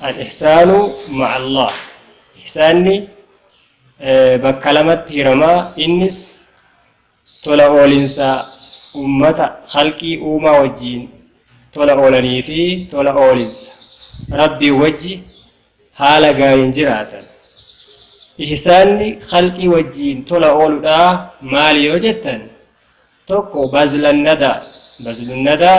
Al ihsaanu ma'a Allaah, Ihsaanni bakka lamatti hirama, innis tola oolinsa ummata, khalqii, uumaa wajjiin tola oolanii fi tola oolinsa Rabbiin wajji haala gaariin jiraatan. Ihsaanni khalqii wajjiin tola ooludha maali yoo jettan, 1 bazla nadaa, bazlu nadaa,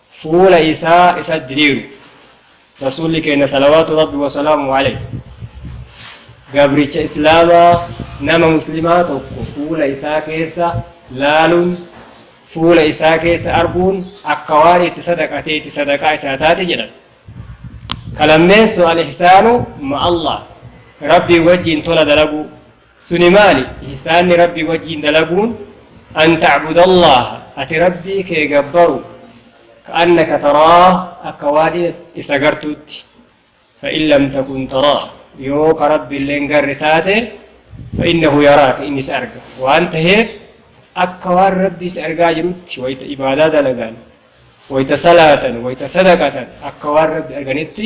fuula isaa isa diriiru. Rasuulli keenna salawaatu Rabbi wa salaamuhu alayhi gabricha Islaamaa nama Muslimaa tokko fuula isaa keessa laaluun, fuula isaa keessa arguun akka waan itti sadaqateeti sadaqaa isaa taate jedhan. Ka lammeessu al-ihsaanu ma'allaah Rabbii wajjiin tola dalaguu, Suni maali? Ihsaanni Rabbii wajjiin dalaguun, an ta'budallaha, ati Rabbii kee gabbaru, ka'annaka taraah, akka waan is agartuutti, fa'in lam takun taraah, yoo ka Rabbillee hin garre taate, fa'innahu yaraaka, inni si arga. Waan taheef, akka waan Rabbii si argaa jirutti wayta ibaadaa dalagan, wayta salaatan, wayta sadaqatan, akka waan Rabbi arganitti,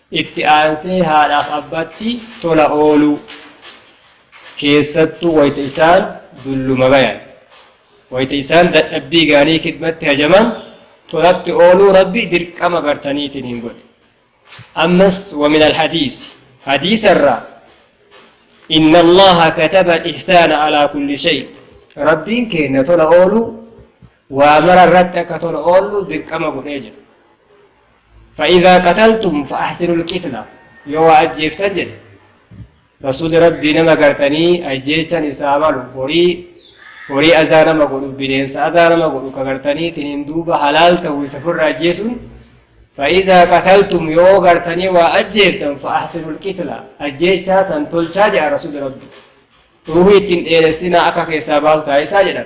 Itti aansee haadhaaf abbatti tola ooluu, keessattuu wayta isaan dulluma bayan, wayta isaan dadhabbii gaarii kidbatti hajaman tolatti ooluu Rabbi dirqama bartaniitiin hin godhe. Ammas wamin alhadiisi, hadiisa irraa Inna Allaaha kataba alihsaana alaa kulli shay, Rabbiin keenna tola ooluu waa mara irratti akka tola oollu dirqama godhee jira. Fa'iizaa qataltum fa'ahsinul qitla yoo waa ajjeeftan jedhe Rasuulli Rabbii nama gartanii ajjeechan isaa malu horii horii azaa nama godhu bineensa azaa nama godhu ka gartanii tiniin duuba halaal ta'u isa firra ajjeesun Fa'iizaa qataltum yoo gartanii waa ajjeeftan fa'ahsinul qitla ajjeechaa san tolchaa jedha Rasuulli Rabbii. Ruuhii ittiin dheeressinaa akka keessaa baasu taasisaa jedhan.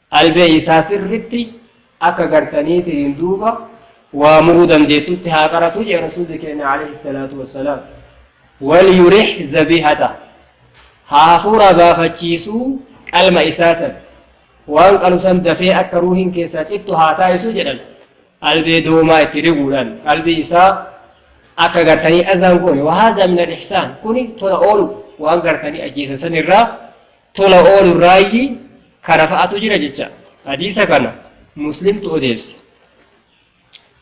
Albee isaa sirritti akka gartaniitiin duuba waa muruu dandeettutti haa qaratu jee rasuulli keenna alayhi salaatu wassalaam. Walyurih zabihatah. Haa hafuuraa baafachiisuu qalma isaa san. Waan qalu san dafee akka ruuhiin keessaa cittu haa taasisu jedhan. Albee doomaa itti riguudhaan qalbii isaa akka gartanii azaan goone. Wahaazaa minal ihsaan. Kuni tola oolu waan gartanii ajjeesan san irraa tola oolurraayyi kana fa'atu jira jecha hadiisa kana muslimtu odeesse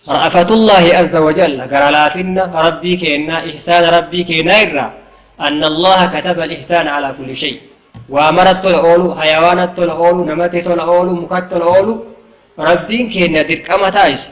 ra'afatullaahi azza wajalla gara laafinna rabbii keennaa ihsaana rabbii keenaa irraa anna allaha kataba alihsaana alaa kulli shay waa marat tola oolu hayawaanat tola oolu namatti tola oolu mukat tola oolu rabbiin keenna dirqama taayise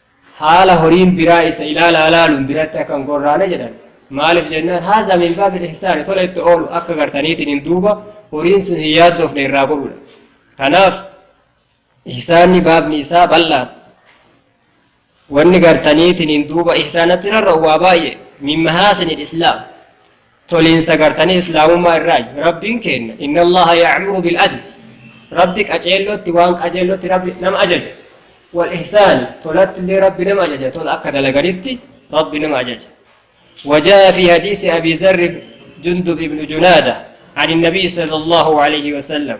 haala horiin biraa isa ilaalaa ilaaluun biratti akka hin gorraane jedhan maaliif jennaan haazaa min baabil ihsaani tola itti oolu akka gartaniitiin hin duuba horiin sun hin yaaddoofne irraa godhuudha kanaaf ihsaanni baabni isaa bal'aa wanni gartaniitiin hin duuba ihsaanatti rarra'u waa baay'ee min mahaasinil islaam Toliinsa gartanii Islaamummaa irraayi. Rabbiin keenna, Inna Allaaha ya'muru bil-'adli, Rabbi qaceellotti, waan qajeellotti Rabbi nama ajaja. Wal-ihsaani, tolattillee Rabbi nama ajaja, tola akka dalaganitti Rabbi nama ajaja. Wajaa'a fii hadiisi Abii Zarri Jundub ibnu Junaada, Ani Nabii Sallallaahu aleyhi wa sallam,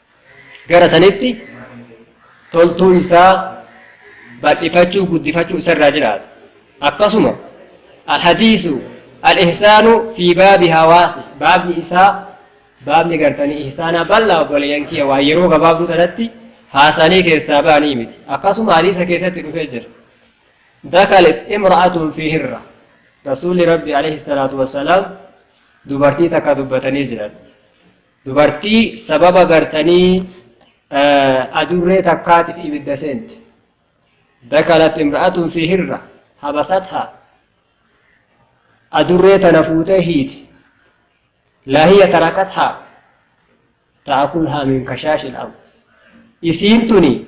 gara sanitti toltuu isaa bal'ifachuu guddifachuu isarraa jiraata akkasuma alhadiisu alihsaanu fi baabi hawaasi baabni isaa baabni gartanii ihsaanaa bal'aa obboleeyyan kiyya waa yeroo gabaabduu tanatti haasanii keessaa ba'anii miti akkasuma hadiisa keessatti dhufee jira dakalet imra'atun fi hirra rasuulli rabbi alayhi salaatu wassalaam dubartii takka dubbatanii jiran Dubartii sababa gartanii adurree takkaatiif ibidda seente. Dakalat imra'atun fi hirra habasatha. Adurree tana fuutee hiite. Laahiya tarakatha ta'akulhaa min kashaashil ard. Isiin tuni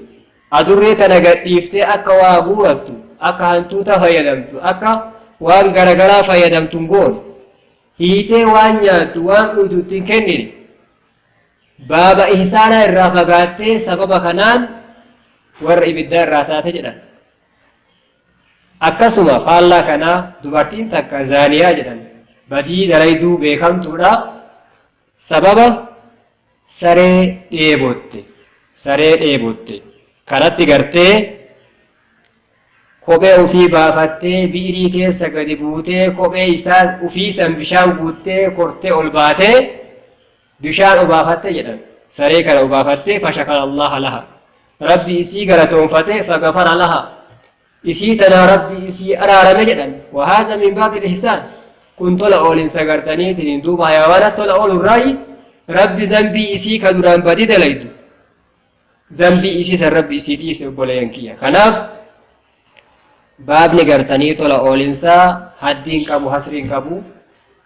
adurree tana gadhiiftee akka waa guurattu, akka hantuuta fayyadamtu, akka waan garagaraa fayyadamtu hin goone. hiitee waan nyaattu waan dhuydu itti hin kennine baaba ihsaanaa irraa fagaattee sababa kanaan warra ibiddaa irraa taate jedhan akkasuma faallaa kanaa dubartiin takka zaaniyaa jedhan badii dalayduu beekamtuudha Sababa saree dheebotte, saree dheebotte, kanatti gartee kophee ufii baafattee bi'irii keessa gadi buutee kophee isaa ufii san bishaan guuttee kortee ol baatee bishaan obaafatte jedhan saree kana obaafattee fashakara allaha laha rabbi isii galatoonfate fagafara laha Isii tanaa Rabbi isii araarame jedhan. Wa haadha min baabil ihsaan. Kun tola oolinsa gartaniitiin duuba hayawaanat tola oolu irraayi Rabbi zanbii isii ka duraan badii dalaydu zanbii isii san Rabbi isii dhiise obboleeyyan kiyya. Kanaaf baabni gartanii tola oolinsaa haddiin qabu hasriin qabu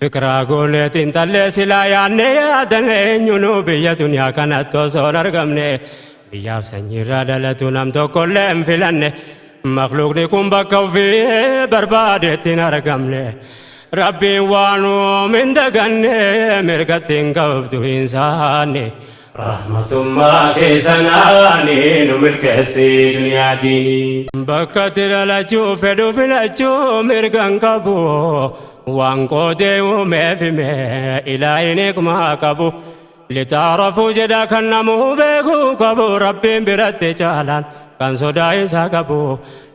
Fikiraa goonee xiinxallee silaa yaadnee yaadan eenyunuu biyya duniyaa kanatti osoo hin argamne biyyaaf sanyiirraa dhalatu nam tokkollee hin filanne makluuqni kun bakka ofii barbaadeetti hin argamne rabbiin waan uume hin daganne mirgatti hin qabdu hin saanne. Rahmatummaa kee sanaani nu milkeessi duniyaa diinii. Bakka itti dhalachuu fedhu filachuu mirgan qabu waan qoodee uumeef hime ilaahin hikmaa qabu litaarafuu jedha kan namuu beekuu qabu rabbiin biratti caalaan kan sodaa isaa qabu